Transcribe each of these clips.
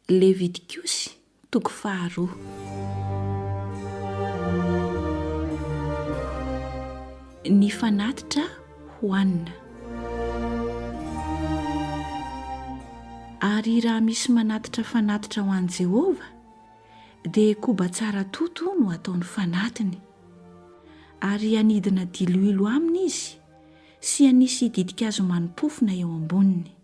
Levitikosy toko faharoa. Ny fanatitra hohanina. Ary raha misy manatitra fanatitra ho an'i Jehovah, dia koba tsara toto no ataony fanatiny. Ary hanidina diloilo aminy izy sy hanisy ditin-kazo mani-pofona eo amboniny.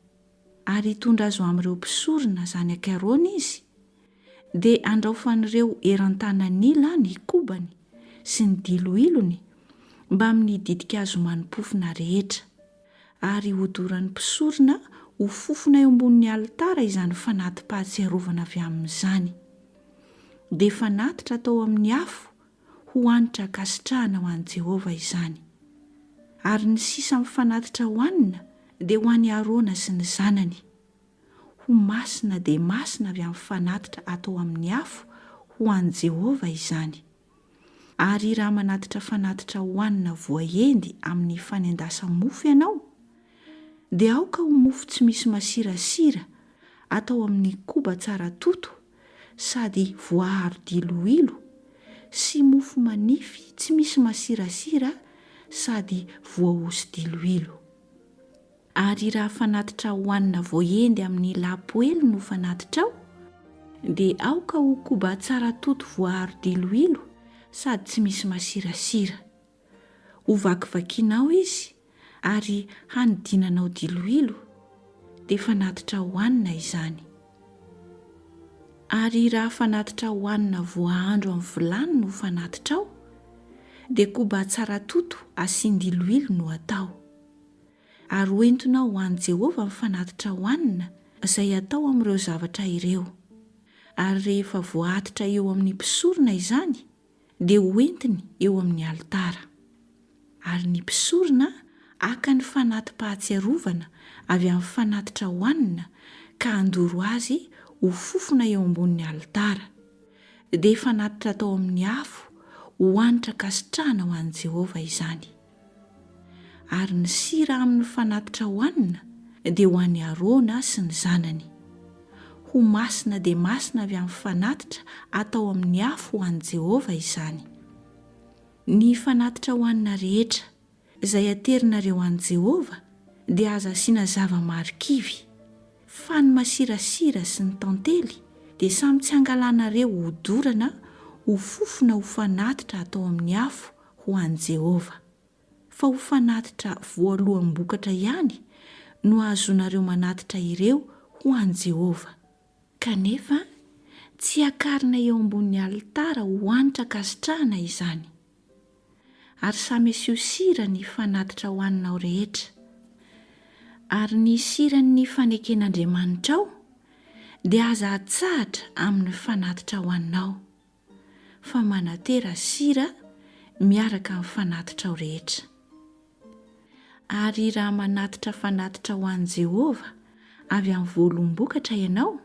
ary hitondra azy ho amin'ireo mpisorona zanak'i Arona izy, dia handraofan'ireo eran-tanan'ila ny kobany sy ny diloilony mbamin'ny ditin-kazo mani-pofona rehetra, ary hodoran'ny mpisorona ho fofona eo ambonin'ny alitara izany fanati-pahatsiarovana avy amin'izany. Dia fanatitra atao amin'ny afo ho hanitra ankasitrahana ho an'i Jehovah izany. Ary ny sisa mifanatitra hohanina dia ho an'i Arona sy ny zanany. Ho masina dia masina avy amin'ny fanatitra atao amin'ny afo ho an'i Jehovah izany. Ary raha manatitra fanatitra hohanina voaendy amin'ny fanendasa-mofo ianao, dia aoka ho mofo tsy misy masirasira atao amin'ny koba tsara toto, sady voaaro diloilo sy mofo manify tsy misy masirasira sady voahoso diloilo. Ary raha fanatitra hohanina voahendy amin'ny lapoely no fanatitrao, dia aoka ho koba tsara toto voaaro diloilo sady tsy misy masirasira. Hovakivakianao izy ary hanidinanao diloilo, dia fanatitra hohanina izany. Ary raha fanatitra hohanina voahandro amin'ny vilany no fanatitrao, dia koba atsaratoto asian-diloilo no atao. Ary hoentinao ho an'i Jehovah ny fanatitra hohanina izay atao amin'ireo zavatra ireo. Ary rehefa voaatitra eo amin'ny mpisorona izany, dia hoentiny eo amin'ny alitara. Ary ny mpisorona haka ny fanati-pahatsiarovana avy amin'ny fanatitra hohanina ka handoro azy ho fofona eo ambonin'ny alitara, dia fanatitra atao amin'ny afo ho hanitra ankasitrahana ho an'i Jehovah izany. Ary ny sira amin' ny fanatitra hohanina dia ho an' i Arona sy ny zanany. Ho masina dia masina avy amin' ny fanatitra atao amin' ny afo ho an' i Jehovah izany. Ny fanatitra hohanina rehetra, izay aterinareo an' i Jehovah, dia aza asiana zava-marikivy, fa ny masirasira sy ny tantely dia samy tsy angalanareo ho dorana ho fofona ho fanatitra atao amin' ny afo ho an'i Jehovah, fa ho fanatitra voaloham-bokatra ihany no ahazoanareo manatitra ireo ho an'i Jehovah. Kanefa, tsy hiakarina eo ambonin'ny alitara ho hanitra ankasitrahana izany. Ary samy asio sira ny fanatitra hohaninao rehetra. Ary ny siran'ny faneken'Andriamanitrao dia aza atsahatra amin'ny fanatitra hohaninao. fa manatera sira miaraka amin'ny fanatitrao rehetra. Ary raha manatitra fanatitra ho an'i Jehovah avy amin'ny voalombokatra ianao,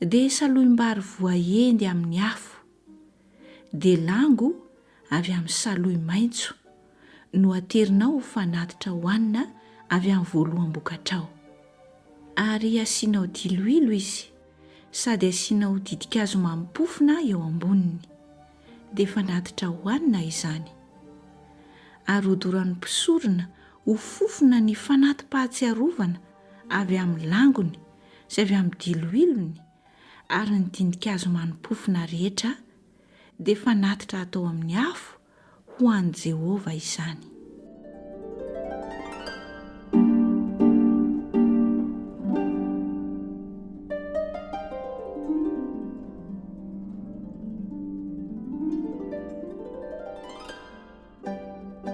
dia saloim-bary voahendy amin'ny afo, delango avy amin'ny saloy maitso, no aterinao ho fanatitra hohanina avy amin'ny voaloam-bokatrao. Ary asianao diloilo izy. sady asianao ditin-kazo mamim-pofona eo amboniny, dia fanatitra hohanina izany. Ary hodoran'ny mpisorona ho fofona ny fanati-pahatsiarovana avy amin'ny langony sy avy amin'ny diloilony, ary ny ditin-kazo manim-pofona rehetra dia fanatitra hatao amin'ny afo ho an'i Jehovah izany.